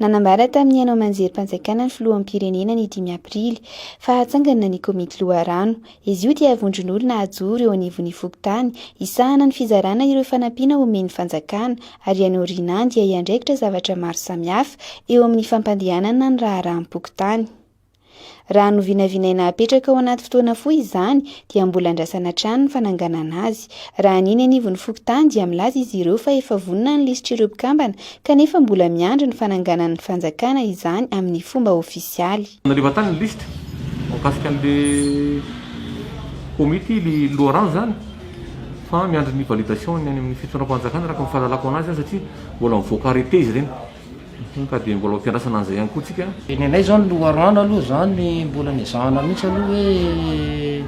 Nanambara tamin'ny haino aman-jerim-panjakana ny filoham-pirenena ny dimy aprily fa hatsangana ny komity loharano. Izy io dia vondron'olona hajoro eo anivon'ny fokontany hisahana ny fizarana ireo fanampiana omen'ny fanjakana ary any aorianany dia hiandraikitra zavatra maro samihafa eo amin'ny fampandehanana ny raharaham-pokontany. Raha novinavinaina hapetraka ho anaty fotoana fohy izany dia mbola andrasana hatrany ny fananganana azy. Raha ny eny anivon'ny fokontany dia milaza izy ireo fa efa vonona ny lisitr'ireo mpikambana kanefa mbola miandry ny fananganan'ny fanjakana izany amin'ny fomba ofisialy. Naleva tany ny lisitra mikasika an'ilay komity ilay loharano izany fa miandry ny validation ny any amin'ny fitondram-panjakana araka ny fahalalako anazy an satria mbola mivoaka arrete izy ireny. Ka dia mbola ampiandrasana an'izay ihany koa tsika. Ny anay izao ny loharano aloha izany ny mbola ny ezahana mihitsy aloha hoe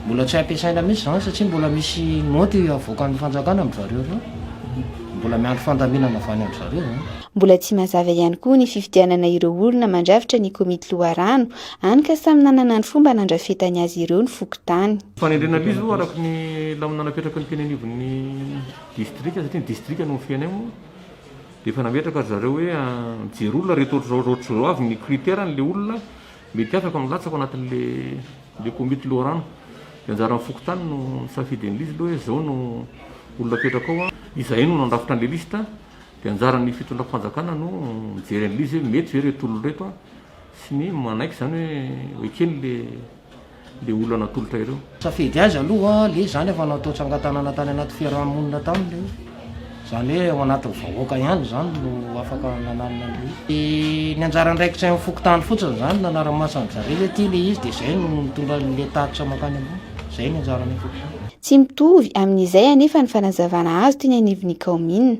mbola tsy ampiasaina mihitsy izany satria mbola misy note havoakan'ny fanjakana amin'dry zareo ireo. Mbola miandry fandaminana avy any an-dry zareo izany. Mbola tsy mazava ihany koa ny fifidianana ireo olona mandrafitra ny komity loharano, hany ka samy nanana ny fomba nandrafetany azy ireo ny fokontany. Fanendrena aloha izy aloha araka ny lamina napetraky ny teny anivon'ny distrika satria ny distrika no mifehy anay moa. Dia efa nametraka ry zareo hoe mijery olona reto ohatr'izao ohatr'izao ohatr'izao avy ny critère n'ilay olona mety afaka no latsaka ao anatin'ilay komity loharano. Dia anjaran'ny fokontany no misafidy an'ilay izy aloha hoe izao no olona apetraka ao an. Izahay no nandrafitra an'ilay liste dia anjaran'ny fitondram-panjakana no mijery an'ilay izy hoe mety ve reto olona reto sy ny manaiky izany hoe ho eken'ilay le olona natolotra ireo. Safidy aiza aloha le zany efa natao tsangatanana tany anaty fiarahamonina tany le zany hoe ao anatin'ny vahoaka ihany zany no afaka nananona anle izy. Ny anjara andraikitry ny fokontany fotsiny zany nanara-maso an'i zareo hoe ty le izy de zay no mitondra anle tatitra mankany ambony. Zay ny anjaran'ny fokontany. Tsy mitovy amin'izay anefa ny fanazavana azo teny anivon'ny kaominina.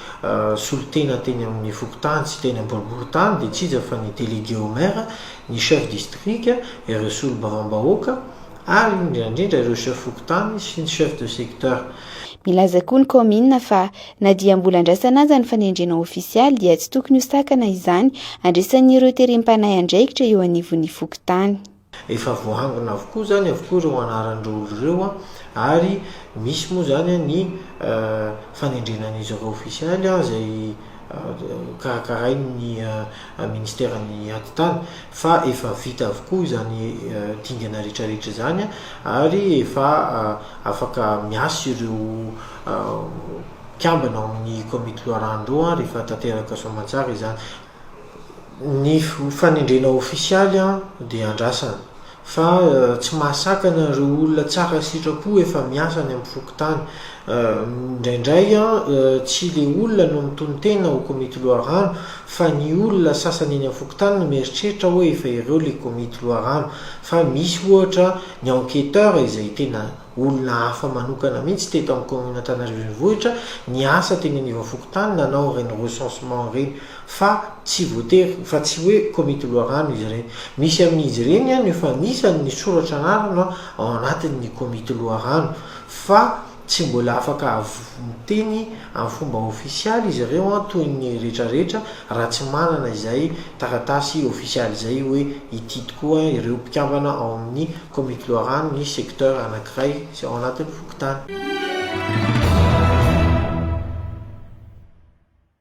solontena teny amin'ny fokontany sy teny am-boriborintany dia tsy iza fa ny délégué au maire, ny chef district, ireo solombavambahoaka ary indrindra indrindra ireo chef fokontany sy ny chef de secteur. Milaza koa ny kaominina fa na dia mbola andrasana aza ny fanendrena ofisialy dia tsy tokony ho sakana izany handresan'ireo terem-panahy andraikitra eo anivon'ny fokontany. Efa voahangona avokoa izany avokoa ireo anaran'ireo olona ireo ary misy moa izany ny fanendrena ny zava ofisialy izay karakarain'ny ministeran'ny atitany fa efa vita avokoa izany dingana rehetrarehetra izany ary efa afaka miasa ireo mpikambana ao amin'ny komity loharano ireo rehefa tanteraka soamantsara izany. Ny fanendrena ofisialy dia andrasana, fa tsy mahasakana ireo olona tsara sitrapo efa miasa any amin'ny fokontany. Indraindray tsy ilay olona no mitonon-tena ho komity loharano fa ny olona sasany eny amin'ny fokontany no mieritreritra hoe efa ireo ilay komity loharano, fa misy ohatra ny enquêteur izay tena olona hafa manokana mihitsy teto amin'ny commune Antanarivo Renivohitra niasa teny aniva fokontany nanao ireny recensement ireny fa tsy voatery fa tsy hoe komity loharano izy ireny misy amin'izy ireny an efa anisany ny soratra anarana ao anatin'ny komity loharano fa tsy mbola afaka Miteny amin'ny fomba ofisialy izy ireo toy ny rehetra rehetra raha tsy manana izay taratasy ofisialy izay hoe ity tokoa ireo mpikambana ao amin'ny Komity Loharano ny secteur anankiray sy ao anatin'ny fokontany.